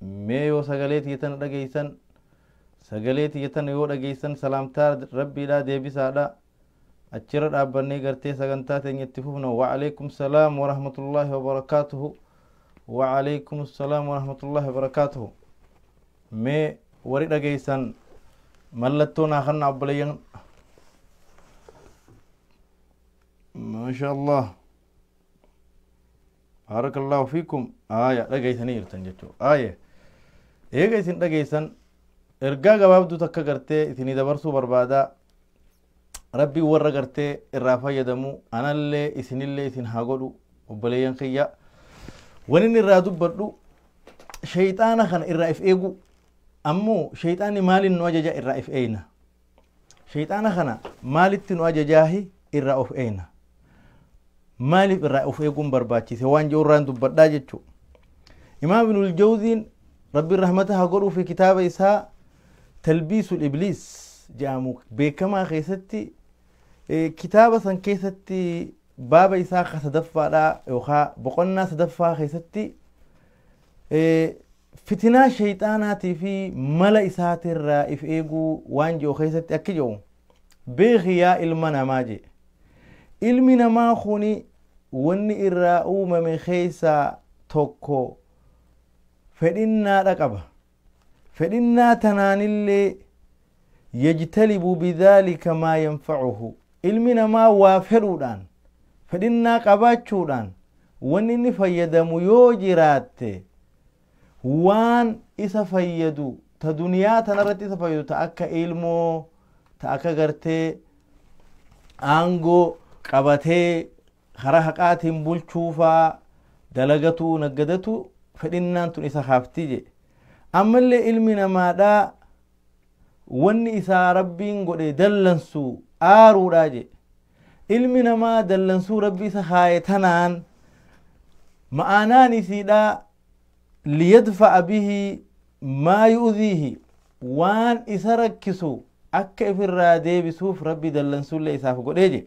Mee yoo sagalee tiyya tana dhageessan, sagalee tiyya tana yoo dhageessan salaamtaa Rabbiidhaa deebisaadha. Achirra dhaabbannee gartee sagantaa teenya itti fufna. Wa'aleekum salaam wa rahmatullaahi wa barakaatuhu. Wa'aleekum salaam wa rahmatullaahi wa barakaatuhu. Mee warri dhageessan mallattoo naa kanna obboleeyyan. Maashaa Allah. Baarakallaahu fiikum aaya dhageeysanii jirtan jechuu aaya eega isin dhageeysan ergaa gabaabduu takka gartee isinii dabarsuu barbaadaa rabbiin warra gartee irraa fayyadamu anallee isinillee isin haa godhu obboleeyyan kiyya wanin irraa dubbadhu sheyxaana kana irraa if eeguu ammoo sheyxaanni maaliin nu ajaja irraa if eeyna Sheyxaana kana maalitti nu ajajaahi irraa of eeyna? Maaliif irraa of eeguun barbaachise waan jedhu irraan dubbadhaa jechuu. Imaam Ibnul Jawziin Rabbiin rahmata haa godhuufi kitaaba isaa Talbiisul Ibliis jedhamu beekamaa keessatti kitaaba san keessatti baaba isaa ka sadaffaadhaa yookaa boqonnaa sadaffaa keessatti Fitinaa sheyxaanaatii fi mala isaatirraa if eeguu waan je'u keessatti akki je'u, Beekhi yaa ilma namaa je'e. Ilmi namaa kuni wanni irraa uumame keessaa tokko fedhinnaadha qaba. Fedhinnaa tanaanillee yajtalibu bidhaalika maa yanfacuhu ilmi namaa waa fedhuudhaan fedhinnaa qabaachuudhaan wanni inni fayyadamu yoo jiraatte waan isa fayyadu ta duniyaa tanarratti isa fayyadu ta akka ilmoo ta akka gartee aangoo qabatee karaa haqaatiin bulchuu faa dalagatuu naggadatu fedhinnaan tun isa kaafti jedhe ammallee ilmi namaadhaa wanni isaa rabbiin godhe dallansu aaruudhaa jedhe ilmi namaa dallansuu rabbi isa kaaye tanaan ma'aanaan isiidhaa liyadfa'a bihi maa yu'dhiihi waan isa rakkisu akka ifirraa deebisuuf rabbi dallansullee isaaf godhee jedhe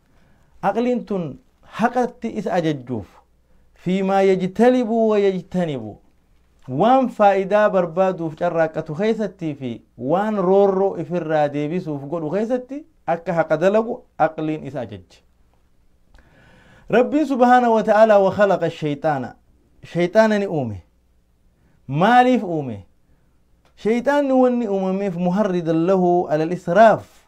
Aqliin tun haqatti isa ajajjuuf, fii maa yajtalibu wa yajtanibu, waan faayidaa barbaaduuf carraaqqatu keessattii fii waan roorroo ifirraa deebisuuf godhu keessatti akka haqa dalagu aqliin isa ajajje. Rabbiin subhaanahu wa ta'aalaa wa khalaqa shayxaana, shayxaana ni uume. Maaliif uume? Shayxaanni wanni uumameef muharridan lahu alal israaf,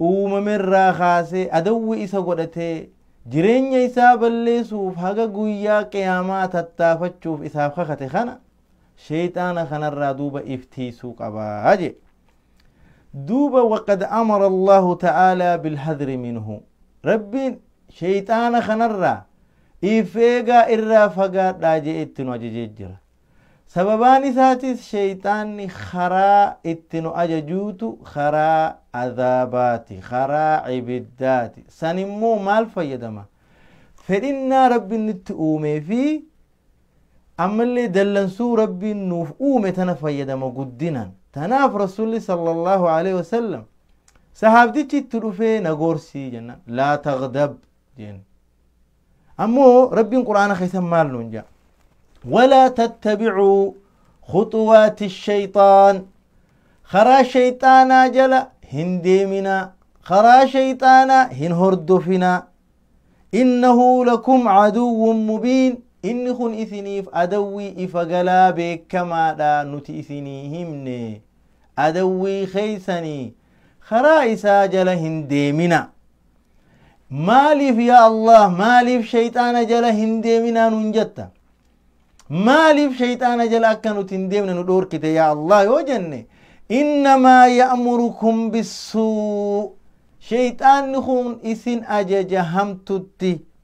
uumamerraa kaasee adawwi isa godhatee jireenya isaa balleesuuf haga guyyaa qiyaamaa tattaafachuuf isaaf kakate kana sheyxaana kanarraa duuba if tiiysuu qabaa jee duuba waqad amara allaahu ta'aalaa bilhadri minhu rabbiin sheyxaana kanarraa if eegaa irraa fagaadhaa jee itti nu ajajee jira Sababaan isaatis sheyxaanni karaa itti nu ajajuutu karaa azaabaati, karaa ibiddaati. San immoo maal fayyadama? Fedhinnaa Rabbiin nutti uumee fi ammallee dallansuu Rabbiin nuuf uume tana fayyadama guddinaan. Tanaaf Rasuulli sallallahu alaihi wasallam sahaabtichi itti dhufee na gorsii jennaan laa taghdab jeen. Ammoo Rabbiin Qur'aana keessan maal nuun jaa? Walaa tattabicuu khuxuwaati shayxaan. Karaa shayxaanaa jala hin deeminaa. Karaa shayxaanaa hin hordofinaa. Innahu lakum caduwwun mubiin. Inni kun isiniif adawwii ifa galaa beekamaadha nuti isinii himne. Adawwii keessanii karaa isaa jala hin deeminaa. maaliif yaa allah maaliif shayxaana jala hin deeminaa nuun jetta maaliif shayxaana jala akka nuti hin deemne nu dhoorkite yaa allah yoo jenne innamaa ya'murukum bissuu shayxaanni kun isin ajaja hamtutti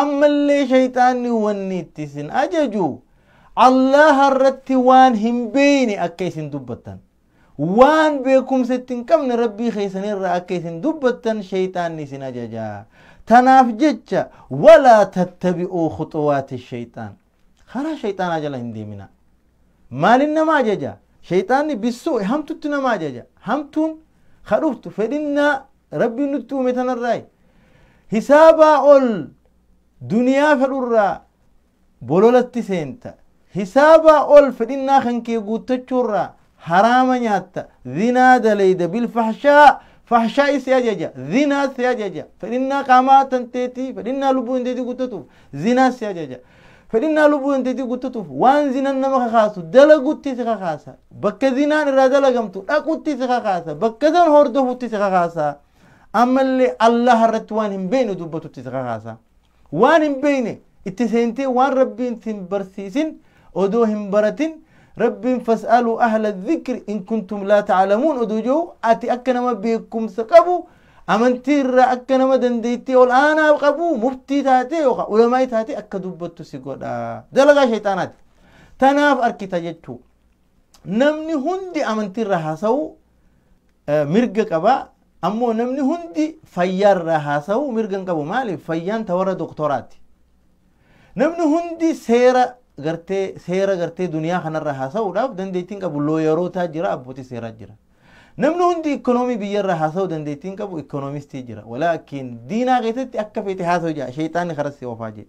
ammallee shayxaanni wanni itti isin ajaju allaha irratti waan hin beeyne akka isin dubbattan waan beekumsa itti hin qabne rabbii keessan irraa akka isin dubbattan shayxaanni isin ajaja tanaaf jecha walaa tattabi'uu khuxuwaati shayxaan Karaa shayxaanaa jala hin deeminaa. Maalin nama ajaja? Shayxaanni bissuu'i hamtutti nama ajaja. Hamtuun ka dhuftu fedhinnaa Rabbiin nutti uume tanarraayi. Hisaabaa ol duniyaa fedhurraa bololatti seenta. Hisaabaa ol fedhinnaa kan kee guuttachuurraa haraama nyaatta, zinaa dalayda, bilfahshaa, fahshaa'i si ajaja, zinaa si ajaja, fedhinnaa qaamaa tanteetii, fedhinnaa lubbuu tanteetii guuttatuuf, zinaa si ajaja. Fedhinnaa lubbuu tanteetii guuttatuuf waan zinan nama kakaasu dalagutti si kakaasa. Bakka zinaan irraa dalagamtu dhaqutti si kakaasa. Bakka san hordofutti si kakaasa. Ammallee Allaha irratti waan hin beekne dubbatutti si kakaasa. Waan hin beeyne itti seentee waan Rabbiin si hin barsiisin odoo hin baratin Rabbiin fas'aluu ahla dhikri in kuntum laa ta'lamuun odoo jehu ati akka nama beekumsa qabu amantii irraa akka nama dandeettii ol aanaa qabu muftii taatee yookaan ulamaa'ii taatee akka dubbattu si godha. Dalagaa shayxaanaati. Tanaaf arkita jechuu. Namni hundi amantii irraa haasa'u mirga qaba ammoo namni hundi fayyaarraa haasa'uu mirga hin qabu maaliif fayyaan ta warra doktoraati namni hundi seera gartee seera gartee duniyaa kanarra haasa'uudhaaf dandeettiin qabu looyarootaa jira abbootii seeraa jira namni hundi ikkonoomii biyyarra haasa'uu dandeettiin qabu ikkoonomistii jira walaakin diinaa keessatti akka feete haasa'u jira sheexaanni karas si oofaa jira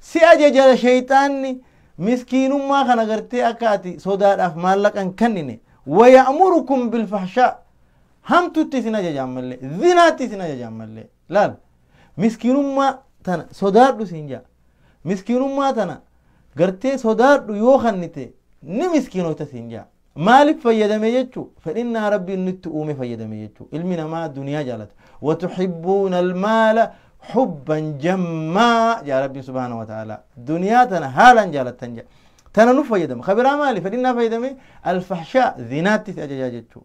Si ajaja sheyxaanni miskiinummaa kana gartee akka ati sodaadhaaf maallaqa hin kennine. Waya'murukum bilfahshaa. Hamtutti isin ajaja ammallee. Zinaatti isin ajaja ammallee. Laal. Miskiinummaa tana sodaadhu siin jaa. Miskiinummaa tana gartee sodaadhu yoo kennite ni miskiinoyta siin jaa. Maalif fayyadame jechu fedhinnaa Rabbiin nutti uume fayyadame jechu ilmi namaa duniyaa jaalata watuhibbuuna almaala hubban jammaa jaa Rabbiin subhaanahu wa ta'ala duniyaa tana haalaan jaalattan jaa tana nu fayyadama kabiraa maali fedhinnaa fayyadame alfahshaa zinaatti si ajajaa jechu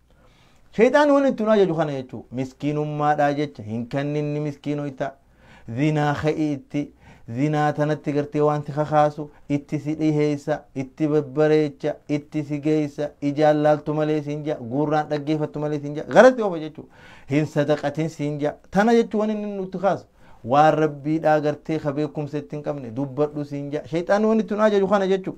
Shayxaanni wanni itti nu ajaju kana jechuu miskiinummaadhaa jecha hin kanninni miskiinoyta zinaa ka'ii itti zinaa tanatti gartee wanti kakaasu itti si dhiheessa itti babbareecha itti si geessa ijaan laaltu malee siin jaa guurraan dhaggeeffattu malee siin jaa garatti oofa jechuu hin sadaqatin siin jaa tana jechuu wanni inni nutti kaasu waan rabbiidhaa gartee ka beekumsa itti hin qabne dubbadhu siin jaa shayxaanni wanni itti nu ajaju kana jechuu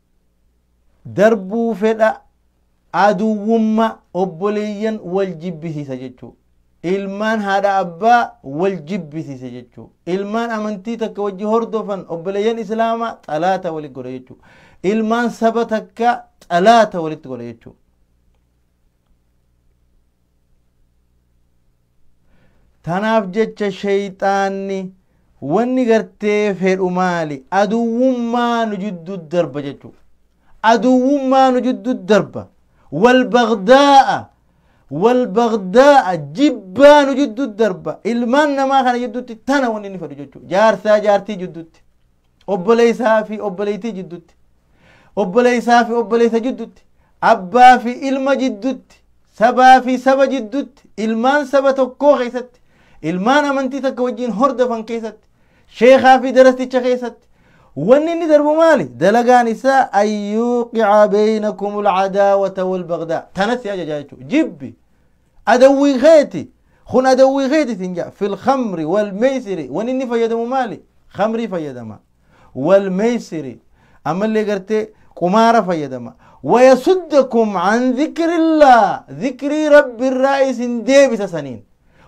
darbuu fedha aduwwumma obboleeyyan wal jibbisiisa jechuu ilmaan haadha abbaa wal jibbisiise jechuu ilmaan amantii takka wajji hordofan obboleeyyan islaama xalaata walitti godha jechuu ilmaan saba takka xalaata walitti godha jechuu tanaaf jecha sheyxaanni wanni gartee fedhu maali aduwwummaa nu jiddu darba jechuu aduwwummaa nu jiddu darba wal bagdaa'a wal bagdaa'a jibbaa nu jiddu darba ilmaan namaa kana jiddutti tana wanni inni fedhu jechuu jaarsaa jaartii jiddutti obboleessaa fi obboleettii jiddutti obboleessaa fi obboleessa jiddutti abbaa fi ilma jiddutti sabaa fi saba jiddutti ilmaan saba tokkoo keessatti ilmaan amantii takka wajjin hordofan keessatti sheekaa fi darasticha keessatti wanni inni darbu maali dalagaan isaa an yuuqica beynakum alcadaawata walbagdaa tanas si ajajaa jechuudha jibbi Adawwii keeti! Kun adawwii keeti siin ja'a. Fil khamri wal meysiri. Wanni inni fayyadamu maali? Khamrii fayyadama. Wal meysiri. Ammallee gartee qumaara fayyadama. Wayasuddakum an zikrillaa. Zikrii rabbi irraa isin deebisa saniin.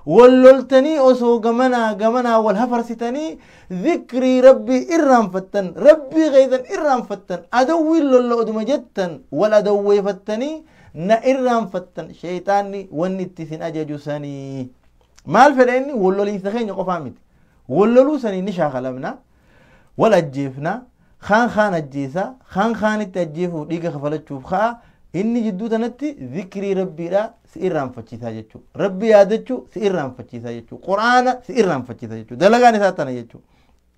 Wal loltanii osoo gamanaa gamanaa wal hafarsitanii zikrii rabbii irraanfattan. Rabbii keessan irraanfattan. Adawwiin lolla oduma jettan wal adawweefattanii na irraanfattan sheeyxaanni wanni itti isin ajaju sanii maal fedha inni wal loliinsa keenya qofaa miti wal loluu sanii ni shaakalamna wal ajjeefna kaan kaan ajjeesa kaan kaanitti ajjeefuuf dhiiga kafalachuuf ka'a inni jidduu tanatti zikrii rabbiidha si irraanfachiisaa jechuu rabbi yaadachuu si irraanfachiisaa jechuu quraana si irraanfachiisaa jechuu dalagaan isaa tana jechuu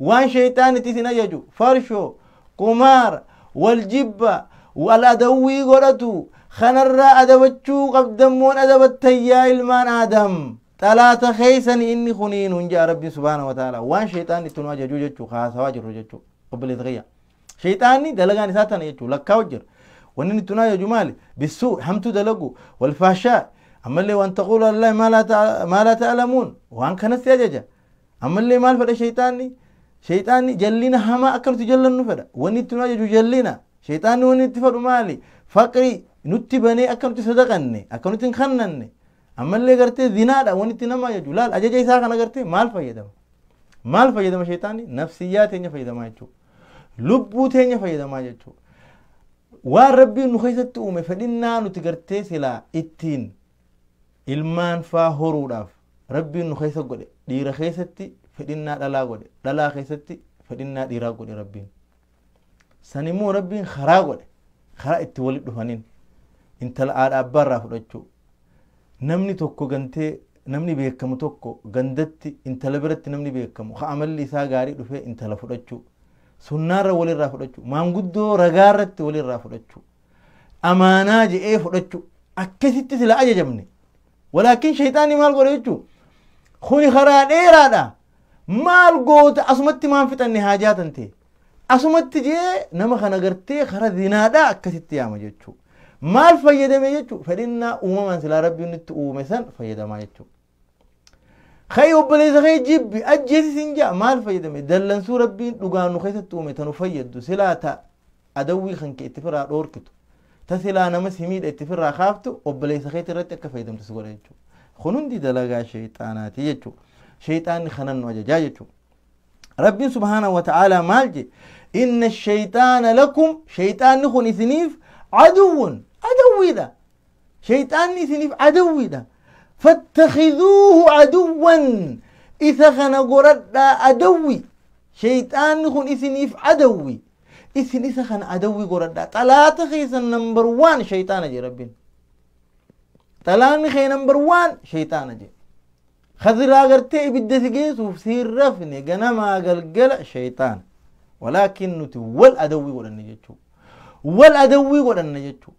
waan sheeyxaanitti isin ajaju farshoo qumaara wal jibba wal adawwii godhatu kanarraa adabachuu qabdammoon adabattan yaa ilmaan aadam xalaata keeysani inni kunii nun ja'a rabbiin subhaana wa ta'ala waan sheeyxaanni itti nu ajaju jechuu haasawaa jirru jechuu obboleessa kiyya sheeyxaanni dalagaan isaa tana jechuu lakkaa'u jira wanni inni itti nu ajaju maali bissuu hamtuu dalagu wal faashaa ammallee waan taquula allahi maa laa ta'lamuun waan kanatti ajaja Ammallee maal fedha shayxaanni? Shayxaanni jallina hamaa akka nuti jallannu fedha. Wanni itti nu ajaju jallina. Shayxaanni wanni itti fedhu maali? Faqri nutti banee akka nuti sadaqanne, akka nuti hin kannanne. Ammallee gartee zinaadha wanni itti nama ajaju. Laal ajaja isaa kana gartee maal fayyadama? Maal fayyadama shayxaanni? Nafsiyyaa teenya fayyadamaa jechuudha. Lubbuu teenya fayyadamaa jechuudha. Waan rabbiin nu keessatti uume fedhinnaa nuti gartee silaa ittiin ilmaan faa horuudhaaf rabbiin nu keessa godhe dhiira keessatti fedhinnaa dhalaa godhe dhalaa keessatti fedhinnaa dhiiraa godhe rabbiin san immoo rabbiin karaa godhe karaa itti walit dhufaniin intala haadha abbaa irraa fudhachuu namni tokko gantee namni beekamu tokko gandatti intala biratti namni beekamu ka amalli isaa gaarii dhufee intala fudhachuu sunnaarra walirraa fudhachuu maanguddoo ragaarratti walirraa fudhachuu amaanaa je'ee fudhachuu akkasitti sila ajajamne walaakin shayxaanni maal godhe jechuu kuni karaa dheeraadha maal goota asumatti maan fixanne haa jaatan ta'e asumatti jee nama kana gartee kara zinaadha akkasitti yaama jechuu maal fayyadame jechuu fedhinnaa uumamaan silaa rabbiin itti uume san fayyadamaa jechuu Ka'ii obboleessa kee jibbi ajjeesi siin ja'a maal fayyadame dallansuu rabbiin dhugaa nu keessatti uume tanu fayyaddu silaa ta adawwii kan kee itti firaa dhoorkitu ta silaa nama si miidha itti firaa kaaftu obboleessa keetti irratti akka fayyadamtu si godha jechuudha. Kun hundi dalagaa sheexaanaati jechuudha. Sheexaanni kanan nu ajajaa jechuudha. Rabbiin subhaanahu wa ta'aalaa maal je inna sheexaana lakum sheexaanni kun isiniif aduwwun adawwiidha. Shayxaanni isiniif adawwiidha. Fattakhiduuhu aduwwan isa kana goradhaa adawwi. Shayxaanni kun isiniif adawwi. Isin isa kana adawwi goradhaa. Xalaata keessan nambar waan shayxaana jedhe rabbiin. Xalaanni kee nambar waan shayxaana jedhe. Khadiraa gartee ibidda si geessuuf si hin rafne ganamaa galgala shayxaana. Walaakin nuti wal adawwii godhanne jechuudha. Wal adawwii godhanne jechuudha.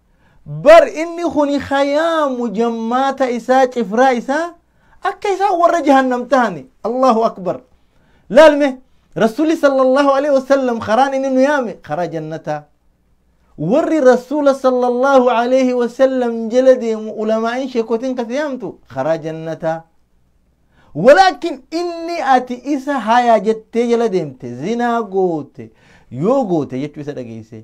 bar inni kuni ka yaamu jammaata isaa cifraa isaa akka isaan warra jahannam tahani allahu akbar laalme rasuli sallallahu alaihi wasallam karaan inni nu yaame karaa jannataa warri rasuula sallallahu alaihi wasallam jala deemu ulamaa'in sheekotin kasi yaamtu karaa jannataa Walaakin inni ati isa hayaa jettee jala deemte zinaa goote yoo goote jechuu isa dhageessee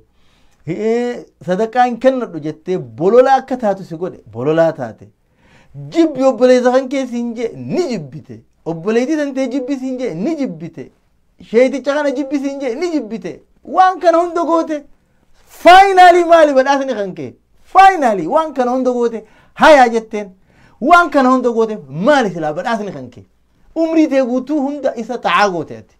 sadaqaa hin kennadhu jettee bolola akka taatu si godhe bololaa taate jibbi obboleessa kan kee siin jee ni jibbite obboleettii tantee jibbi siin jee ni jibbite sheeyticha kana jibbi siin jee ni jibbite waan kana hunda goote faayinaalii maali badhaasni kan kee faayinaalii waan kana hunda goote hayaa jetteen waan kana hunda goote maali silaa badhaasni kan kee umrii tee guutuu hunda isa ta'aa goote ati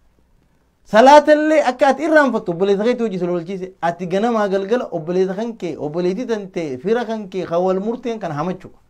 salaatallee akka ati irraanfattu obboleessa keetti hojii sila oolchiise ati ganamaa galgala obboleessa kan kee obboleettii tan tee fira kan kee kan wal murteen kan hamachu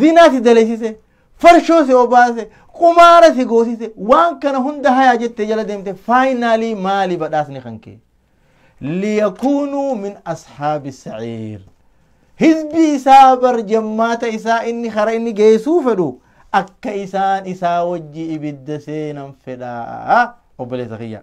zinaa si dalaysise farshoo si obaase qumaara si goosise waan kana hunda hayaa jette jala deemte faayinaalii maali badhaasni kan kee liyakuunuu min ashaabi saciir hizbii isaa bar jammaata isaa inni kara inni geessuu fedhu akka isaan isaa wajji ibidda seenan fedhaa obboleessa kiyya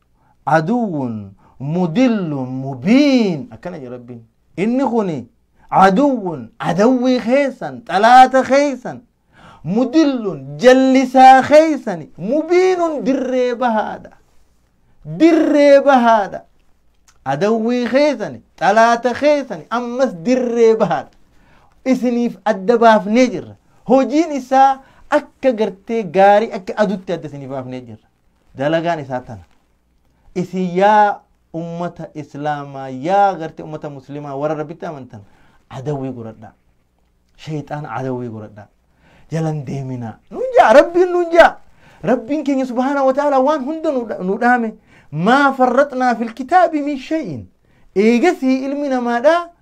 aduwwun mudillun mubiin akkana jedha rabbiin inni kuni aduwwun adawwii keessan xalaata keessan mudillun jallisaa keessani mubiinun dirree bahaadha dirree bahaadha adawwii keessani xalaata keessani ammas dirree bahaadha isiniif adda baafnee jirra hojiin isaa akka gartee gaarii akka adutti adda isiniif baafnee jirra dalagaan isaa tana isin yaa ummata islaamaa yaa garte ummata muslimaa warra rabbitti amantan adawwii godhadhaa shayxaan adawwii godhadhaa jalan deeminaa nuun jaa rabbiin nuun jaa rabbiin keenya subhaana wa ta'ala waan hunda nu dha- nu dhaame maa farraxnaa fil kitaabi min shay'in eegasii ilmi namaadhaa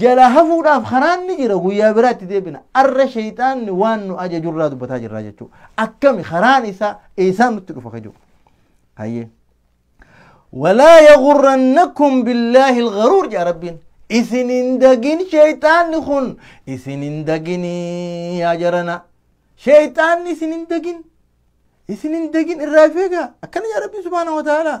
jalaa hafuudhaaf karaan ni jira guyyaa biraatti deebina arra sheyxaanni waan nu ajaju irraa dubbataa jirraa jechuu akkami karaan isaa eesaan nutti dhufa ka jiru hayyee walaa yagurrannakum billaahi ilgaruur jedha rabbiin isin hin dagin sheyxaanni kun isin hin daginii yaa jarana sheyxaanni isin hin dagin isin hin dagin irraa feegaa akkana jedha rabbiin subhaanahu wa ta'aalaa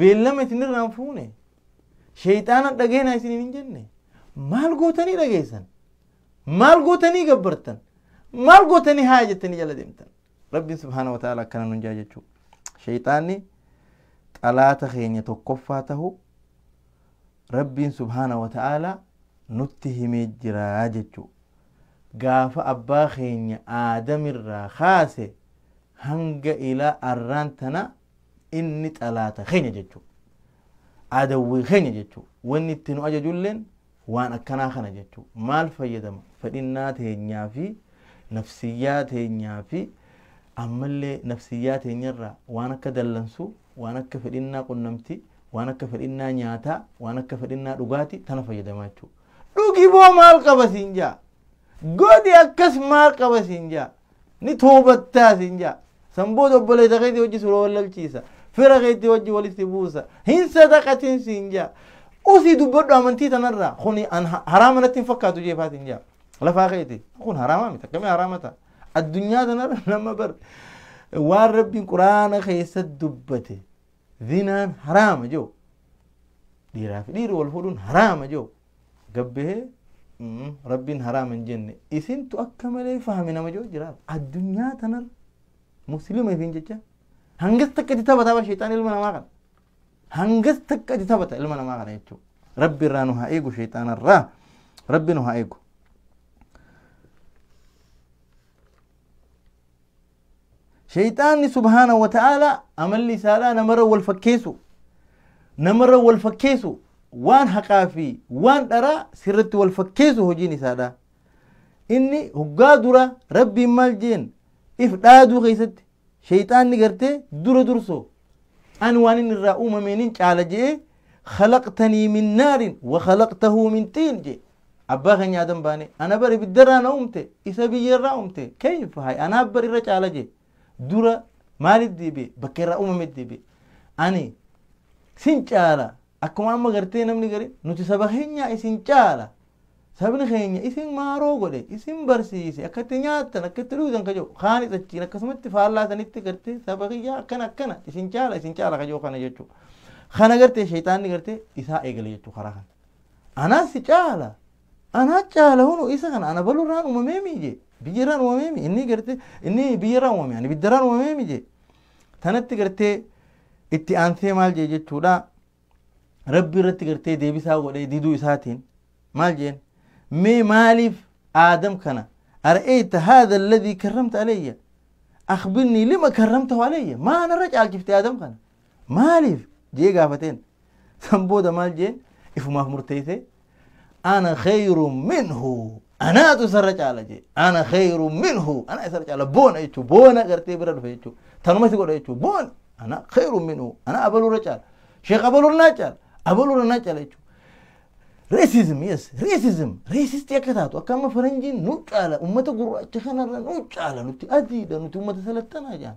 beellama isinirraan fuune sheeyxaana dhageenaa isiniin hin jenne maal gootanii dhageessan maal gootanii gabbartan maal gootanii haa jettanii jala deemtan rabbiin subhaana wa ta'ala akkana nun jaa jechuu sheeyxaanni xalaata keenya tokkoffaa tahu rabbiin subhaana wa ta'ala nutti himee jiraa jechuu gaafa abbaa keenya aadamirraa kaase hanga ilaa arraan tana inni xalaata keenya jechuu adawwii keenya jechuu wanni itti nu ajajulleen waan akkanaa kana jechuu maal fayyadama fedhinnaa teenyaa fi nafsiyyaa teenyaa fi ammallee nafsiyyaa teenyarraa waan akka dallansuu waan akka fedhinnaa qunnamtii waan akka fedhinnaa nyaataa waan akka fedhinnaa dhugaatii tana fayyadamaa jechuu dhugi boo maal qaba siin jaa godhi akkas maal qaba siin jaa ni toobattaa siin jaa san booda obboleessa keetii wajji sura wallalchiisa fira keetii wajji walitti buusa hin sadaqatin siin jaa usii dubbadhu amantii tanarraa kuni an ha- haraama natti hin fakkaatu jeefaa siin jaa lafaa keeti kun haraamaa miti akkamii haraama ta'a addunyaa tanarra nama bar waan rabbiin quraana keessa dubbate zinaan haraama jiru dhiiraa fi dhiirri wal fuudhuun haraama jiru gabbahee rabbiin haraama hin jenne isintu akka malee fahame nama jiru jira addunyaa tanarra muslima isin jecha hangas takka itti taphata bara sheexaan ilma namaa kana hangas takka itti taphata ilma namaa kana jechuudha rabbi irraa nu haa eegu sheexaana irraa rabbi nu haa eegu Shayxaanni subhaanahu wa ta'aalaa amalli isaadhaa namarra wal fakkeessu. Namarra wal fakkeessu waan haqaa fi waan dharaa sirratti wal fakkeessu hojiin isaadhaa. Inni hoggaa dura rabbiin maal jeen if dhaaduu keessatti shayxaanni gartee dura dursoo ani waan inni irraa uumameenin caala je'ee khalaqtanii min naarin wa khalaqtahuu min xiin jee Abbaa keenya Aadam baane, ana bar ibidda irraa na uumte, isa biyyee irraa uumte, kayf hay anaaf bar irra caala jee, dura maalit deebi'e, bakka irraa uumamet deebi'e. Ani sin caala, akkuma amma gartee namni gari, nuti saba keenyaa isin caala, sabni keenya isin maaroo godhe, isin barsiise, akka itti nyaattan, akka itti dhugdan ka jedhu, kaanis achiin akkasumatti faallaa sanitti gartee saba kiyyaa akkana akkana, isin caala, isin caala ka jedhu kana jechuu. Kana gartee shayxaanni gartee isaa eegale jechuu karaa kana. Anaa si caala! Anaa caala hunu isa kana ana balu irraan uumamee mii jee. Biyya irraan uumamee mii inni gartee inni biyya irraan uumamee ani bidda irraan uumamee mii jee. Tanatti gartee itti aansee maal jee jechuudha. Rabbi irratti gartee deebisaa godhee diduu isaatiin maal jeen mee maaliif aadam kana ara'eeyta haadha alladhii karramta alayya akhbirnii lima karramtahu alayya maa narra caalchifte aadam kana Maaliif? jee gaafateen. San booda maal jeen ifumaaf murteessee ana kheyru minhu anaatu isarra caala jee ana kheyru minhu ana isarra caala boona jechuu boona gartee bira dhufe jechuu tanuma si godha jechuu boona ana kheyru minhu ana abalurra caala sheekh abalurra naa caala abalurra naa caala jechuu Racism, yes, racism. Racistii akka taatu akka amma faranjiin nu caala uummata gurraacha kanarra nu caala nuti adiidha nuti uummata salattanaa jaan.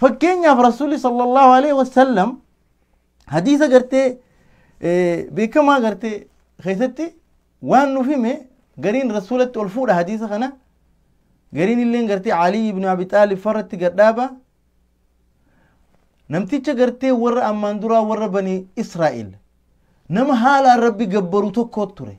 Fakkeenyaaf Rasuulli sallallahu alaihi wasallam hadiisa gartee beekamaa gartee keessatti waan nuuf hime gariin rasuulatti ol fuudha hadiisa kana gariin illee gartee Alii ibn Abi Xaalib farratti gadhaaba namticha gartee warra ammaan duraa warra banii Israa'el nama haalaan rabbi gabbaru tokko ture.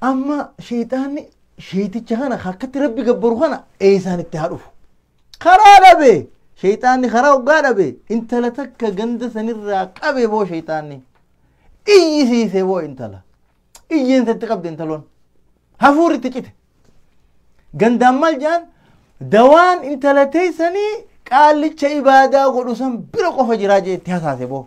Amma sheexaanni sheexicha kana akkatti rabbi gabbaru kana eessaan itti haa dhufu. Karaa dhabe sheexaanni karaa hoggaa dhabe intala takka ganda sanirraa qabe boo sheexaanni. Iyyisiise boo intala. Iyyeensa itti qabde intaloon. Hafuurri itti cite. Gandaan maal jedhan dawaan intala teessanii qaallicha ibaadaa godhu san bira qofa jiraa jee itti hasaase boo.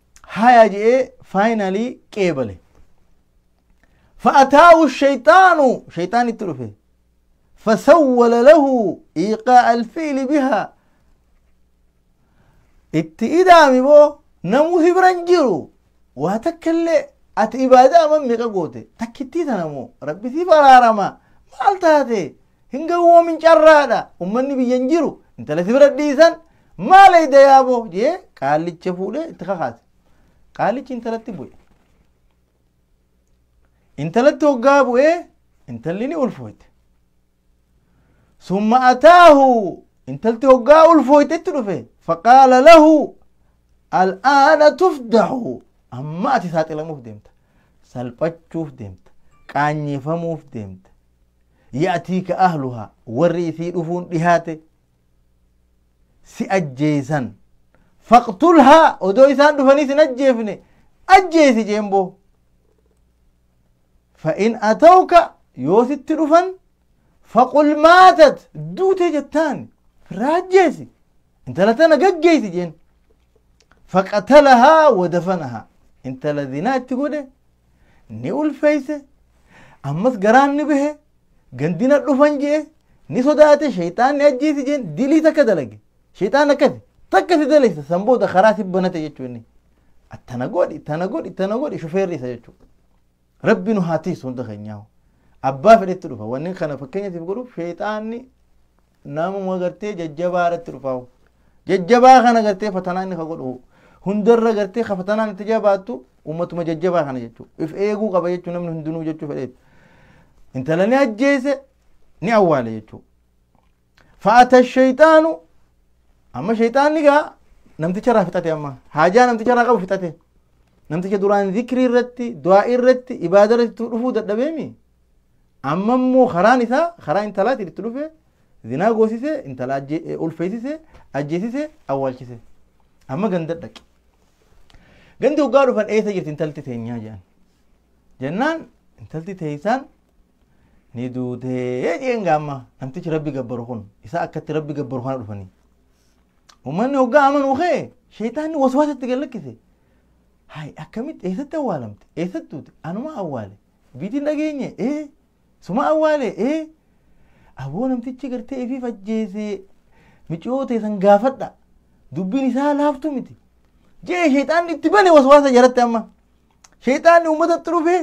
haya je'ee finally qeebale fa'ataawu shayxaanu shayxaan itti dhufe fasawwala lahu iqaa alfiili bihaa itti idaami boo namuu si biran jiru waa takka illee ati ibaadaa amma meeqa goote takkittii tana moo rabbi siif araarama maal taate hin gawwoomin carraadha ummanni biyyan jiru intala si bira dhiisan Maal eeyda yaaboo jee qaallicha fuudhee itti kakaase. Qaallichi intalatti bu'e. Intalatti hoggaa bu'ee intalli ni ulfooyte. Summa ataahu intalti hoggaa ulfooyte itti dhufe. Faqaala lahu al'aana tufdahu amma ati saaxilamuuf deemta. Salphachuuf deemta. Qaanyeefamuuf deemta. Ya'tiika ahluhaa warri isii dhufuun dhihaate. si ajjeesan faqtulhaa odoo isaan dhufanii sin ajjeefne ajjeesi jeemboo fa'in atawka yoo sitti dhufan faqul maatat duute jettaan firraa ajjeesi intala tana gaggeeysi jeen faqatalahaa wadafanahaa intala zinaa itti godhe ni ulfeeyse ammas garaan ni bahe gandina dhufan jee ni sodaate shayxaan ni ajjeesi jeen dilii takka dalage shayxaan akkasi takka si daleysa san booda karaa si banate jechuu inni attana godhi tana godhi tana godhi shufeerri isa jechuu rabbi nu haa tiisu hunda keenyaa abbaa fedhetti dhufa wanni kana fakkeenya siif godhuuf shayxaanni namuma gartee jajjabaa irratti dhufaa'u jajjabaa kana gartee fatanaa inni ka godhu hundarra gartee ka fatanaan itti jabaattu ummatuma jajjabaa kana jechuu if eeguu qaba jechuu namni hundinuu jechuu fedheef intala ni ajjeese ni awwaale jechuu fa'ata shayxaanu amma shayxaanni gaa namticha irraa fixate amma haajaa namticha irraa qabu fixate namticha duraan zikrii irratti du'aa irratti ibaada irratti dhufuu dadhabeemi Amma immoo karaan isaa karaa intalaatiin itti dhufe zinaa goosise intala ulfeessise ajjeesise awwaalchise. Amma ganda dhaqe. Gandi hoggaa dhufan eessa jirti intalti teenyaa jedhan. Jennaan intalti teessaan ni duutee jeen gaamma namtichi rabbi gabbaru kun isaa akkatti rabbi gabbaru kana dhufanii. Uummanni hoggaa amanuu kee sheeytaanni waswaasatti gallakkise. Hayi akkamitti eessatti awwaalamte eessatti duute anuma awwaale. Dubbiitii hin dhageenye ee suma awwaale ee aboo namtichi gartee ifiif ajjeese miciyoo ta'e san gaafadha dubbiin isaa laaftu miti jee sheexaanni itti bane waswaasa jaratti amma sheexaanni uummatatti dhufee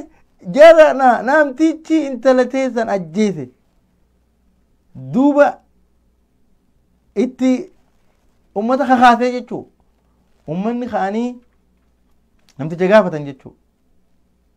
jara na namtichi intala ta'e san ajjeese duuba itti uummata kakaasee jechuu uummanni ka'anii namticha gaafatan jechuu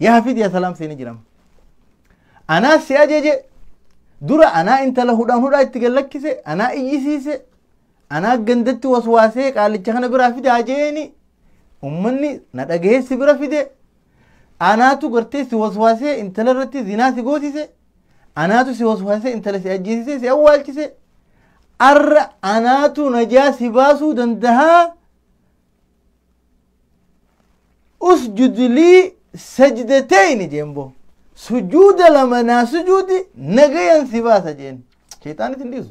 Yaa Hafiz yaa Salaam seeni jiram. Anaa si ajeje dura anaa intala hudhaan hudhaa itti gallakkise anaa iyyisiise anaa gandatti waswaasee qaalicha kana biraa fide ajeeni ummanni na dhagahee si bira fide anaatu gartee si waswaasee intala irratti zinaa si goosise anaatu si waswaasee intala si ajjeesise si awwaalchise arra anaatu najaa si baasuu dandahaa usjud lii sajdatayni jeen boo sujuuda lama naa sujuudi nagayan si baasa jeen shayxaan isin dhiisu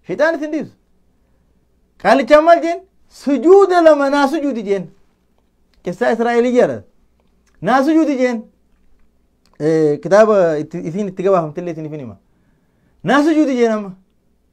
shayxaan isin dhiisu qaalichaan maal jeen sujuuda lama naa sujuudi jeen qissaa israa'elii jala naa sujuudi jeen kitaaba itti- isiin itti gabaafamtillee isiniif hin hima naa sujuudi jeen amma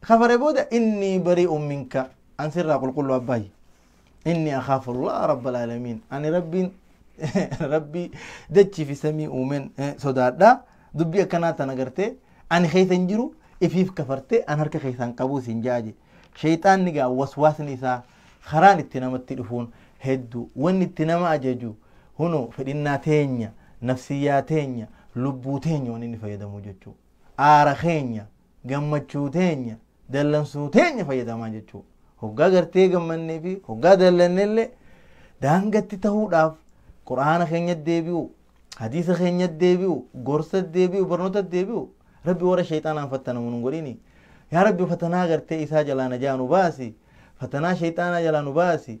kafare booda innii bari'un minka an sirraa qulqulluu abbaayya innii akhaafu allaha rabbal aalamiin ani rabbiin rabbii dachii fi samii uumeen eh, sodaadha dubbii akkanaa tana gartee ani keessa hin jiru ifiif kafartee an harka keessaan qabuu siin ja'a je sheeyxaanni gaa waswaasni isaa karaan itti namatti dhufuun hedduu wanni itti nama ajaju huno fedhinnaa teenya nafsiyyaa teenya lubbuu teenya waan inni fayyadamu jechuu aara keenya gammachuu teenya dallansuu teenya fayyadamaa jechuu hoggaa gartee gammannee fi hoggaa dallannellee daangatti ta'uudhaaf quraana keenya deebi'u hadiisa keenya deebi'u gorsa deebi'u barnoota deebi'u rabbi warra sheexaanaan fattanamu nun godhini yaa rabbi fatanaa gartee isaa jalaa najaa nu baasi fatanaa sheexaanaa jalaa nu baasi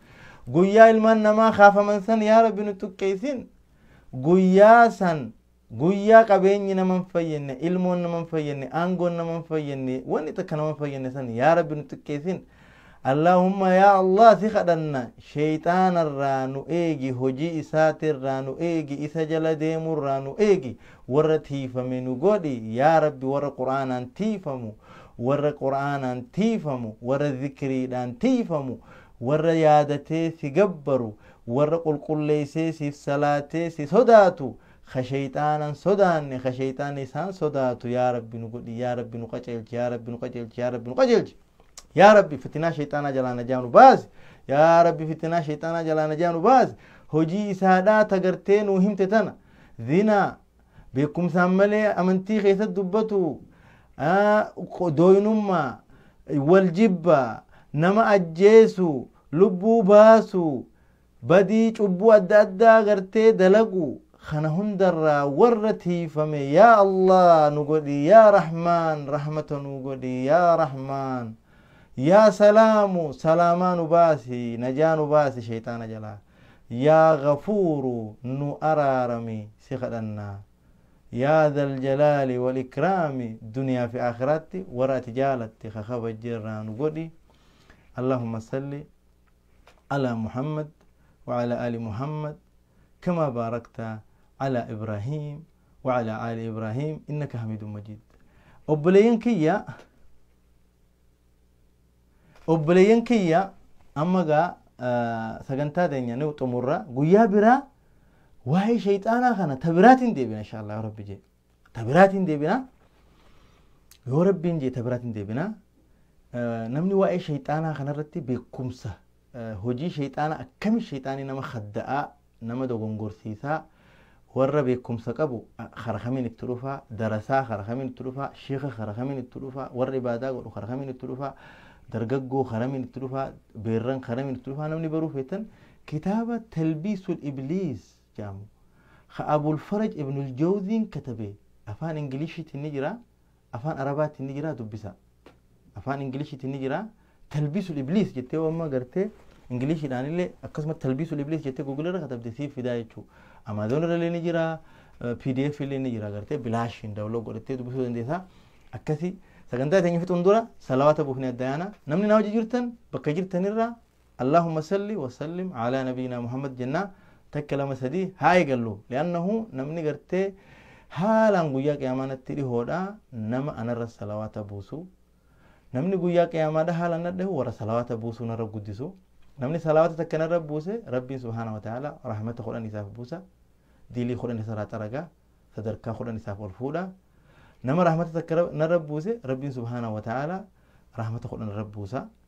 Guyyaa ilmaan namaa kaafaman san yaa Rabbi nu xuqqeessin. Guyyaa san guyyaa qabeenyi nama hin fayyadne, ilmoon nama hin fayyadne, aangoon nama hin fayyadne, wanni takka nama hin fayyadne san yaa Rabbi nu xuqqeessin. Allaahumma yaa Allah si kadhanna sheeyxaanarraa nu eegi, hojii isaatirraa nu eegi, isa jala deemurraa nu eegi, warra tiifame nu godhi yaa Rabbi warra Qur'aanaan tiifamu, warra Qur'aanaan tiifamu, warra zikriidhaan tiifamu. Warra yaadatee si gabbaru, warra qulqulleessee siif salaatee si sodaatu, ka sheyxaana hin sodaanne, ka sheyxaanni isaan sodaatu yaa Rabbi nu godhi, yaa Rabbi nu qaceelchi, yaa Rabbi nu qaceelchi, yaa Rabbi nu qaceelchi. Yaa Rabbi fitinaa sheyxaanaa jalaa najaa nu baasi, yaa Rabbi fitinaa sheyxaanaa jalaa najaa nu baasi, hojii isaadhaa ta gartee nuu himte tana, zinaa, Beekumsaan malee amantii keessatti dubbatu dooynummaa, wal jibba, nama ajjeesu, lubbuu baasu, badii cubbuu adda addaa gartee dalagu kana hundarraa warra tiifame yaa Allah nu godhi yaa Rahmaan rahmata nu godhi yaa Rahmaan yaa Salaamu salaamaa nu baasi najaa nu baasi sheeyxaana jalaa. Yaa Ghafuuru nu araarami si kadhanna. Yaa Dhal Jalaali wal Ikraami duniyaa fi Aakhiraatti warra ati jaalatte ka kabajje irraa nu godhi. Allahumma salli Ala Muhammad wa Ala Ali Muhammad kama baarakta Ala Ibraahiim wa Ala Ali Ibraahiim innaka Hamiidun Majiid. Obboleeyyan kiyya. Obboleeyyan kiyya amma gaa sagantaa teenya ni xumurra guyyaa biraa waa'ee shayxaanaa kana ta biraatiin deebina insha Allah rabbi jee ta biraatiin deebina yoo rabbiin jee ta biraatiin deebina namni waa'ee shayxaanaa kanarratti beekumsa hojii sheyxaana akkami sheyxaani nama khadda'aa nama dogongorsiisaa warra beekkumsa qabu khara kamiin itti dhufaa darasaa khara kamiin itti dhufaa sheekha khara kamiin itti dhufaa warra ibaadaa godhu khara kamiin itti dhufaa dargaggoo kharamiin itti dhufaa beerran kharamiin itti dhufaa namni baruu feetan kitaaba talbiisul ibliis jedhamu ka abul faraj ibnul jawziin katabe afaan ingiliishiitiin ni jira Afaan Arabaatiin ni jira dubbisaa. Afaan Ingiliishiitiin ni jira. Talbiisul Ibliis jettee yoo amma gartee Ingiliishiidhaan illee akkasuma Talbiisul Ibliis jettee Google irra katabde siif fidaa jechuudha. Amaazoon irra illee ni jira. PDF illee ni jira gartee bilaashiin daawuloo godhattee dubbisuu dandeessaa. Akkasii sagantaa keenya fixuun dura salawaata buufnee adda yaana. Namni naa hojii jirtan bakka jirtanirraa Allahumma salli wa sallim ala nabiyina Muhammad jennaa takka lama sadii haa eegallu li'annahu namni gartee haalaan guyyaa qiyaamaa natti dhihoodha nama anarra salawaata buusu namni guyyaa qiyaamaadha haalaan nadhahu warra salawaata buusuu narra guddisu namni salawaata takka narra buuse rabbiin subhaana wa ta'ala rahmata kudhan isaaf buusa diilii kudhan isarraa xaraga sadarkaa kudhan isaaf ol fuudha nama rahmata takka narra buuse rabbiin subhaana wa ta'ala rahmata kudhan irra buusa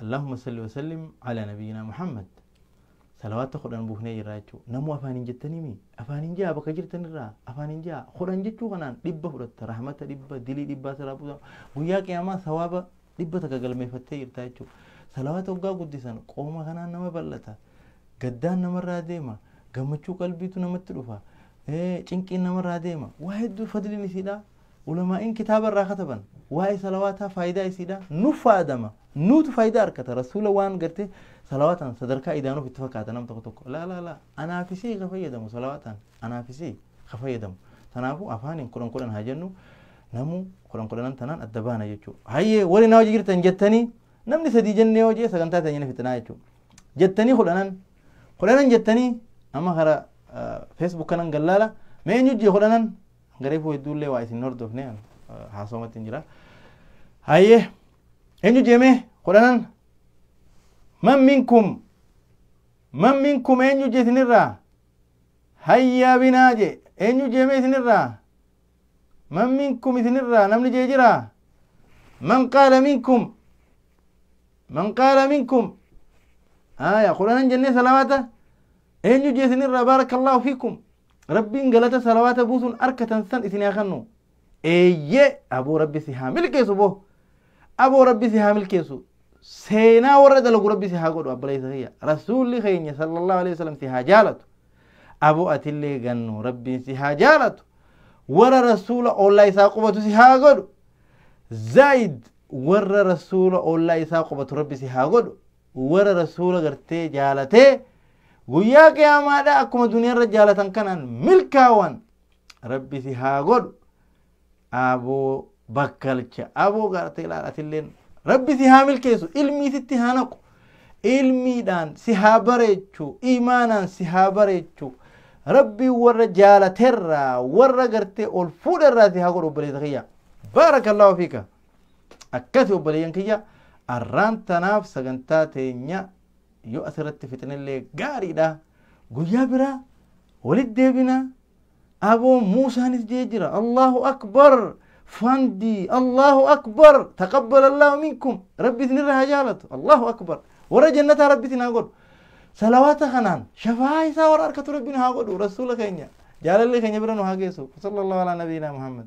Allahumma salli wa sallim ala nabiyyina Muhammad. Salawaatta kudhan buufnee jirra jechuu. Namuu afaaniin jettanimi. Afaaniin jaa bakka jirtan irraa. Afaaniin jaa. Kudhan jechuu kanaan dhibba fudhatta. Rahmata dhibba, dilii dhibbaa siraa buusa. Guyyaa qiyaamaa sawaaba dhibba takka galmeeffattee jirta jechuu. Salawaata hoggaa guddisan qooma kanaan nama bal'ata. Gaddaan namarraa deema. Gammachuu qalbiitu namatti dhufa. Cinqiin namarraa deema. Waa hedduu fadliin isiidhaa. Ulamaa'iin kitaaba irraa kataban waa'ee salawaataa faayidaa isiidhaa nuf faadama nuutu faayidaa arkata rasuula waan gartee salawaataan sadarkaa idaanuuf itti fakkaata nam tokko tokko laa laa laa anaafisii ka fayyadamu salawaataan anaafisii ka fayyadamu tanaafuu afaaniin kudhan kudhan haa jennu namuu kudhan kudhanan tanaan adda baana jechuu hayyee warri na hojii jirtan jettanii namni sadii jennee hojii sagantaa teenya ni fixinaa jechuu jettanii kudhanan kudhanan jettanii amma karaa feesbuuk kanan gallaala mee eenyu jee kudhanan Garee koo hedduu illee waa isin hordofne haasawamatti hin jira. Hayyee eenyu jeemee kudhanan man minkum man minkum eenyu je isinirraa hayyaa binaa je eenyu jeemee isinirraa man minkum isinirraa namni jee jiraa man qaala minkum man qaala minkum haya kudhanan jennee salawaata eenyu je isinirraa baarakallahu fikum Rabbiin galata salawaata buusuun arkatan san isin haa kannu. Eeyyee aboo rabbi si haa milkeessu boo. Aboo rabbi si haa milkeessu. Seenaa warra dalagu rabbi si haa godhu abbaleessa kiyya. Rasuulli keenya sallallahu alaihi wasallam si haa jaalatu. Aboo atillee gannu rabbiin si haa jaalatu. Warra rasuula ollaa isaa qubatu si haa godhu. Zaayid warra rasuula ollaa isaa qubatu rabbi si haa godhu. Warra Rasuula gartee jaalatee guyyaa qiyaamaadhaa akkuma duniyaarra jaalatan kanaan milkaawan rabbi si haa godhu aboo bakkalcha aboo gartee laal atilleen rabbi si haa milkeessu ilmii sitti haa naqu ilmiidhaan si haa bareechu imaanaan si haa bareechu rabbi warra jaalaterraa warra gartee ol fuudherraa si haa godhu obboleessa kiyya baarakallahu fiika Akkasi obboleeyyan kiyya arraan tanaaf sagantaa teenya yoo asirratti fixnellee gaariidha. Guyyaa biraa walitti deebina. Aboo Muusaanis jee jira. Allahu akbar fandii Allahu akbar taqabbal Allahu minkum rabbi isinirra haa jaalatu Allahu akbar warra jannataa rabbi isin haa godhu. Salawaata kanaan shafaa isaa warra harkatu rabbi nu haa godhu rasuula keenya jaalallee keenya bira nu haa geessu. Sallallahu ala nabiyyina Muhammad.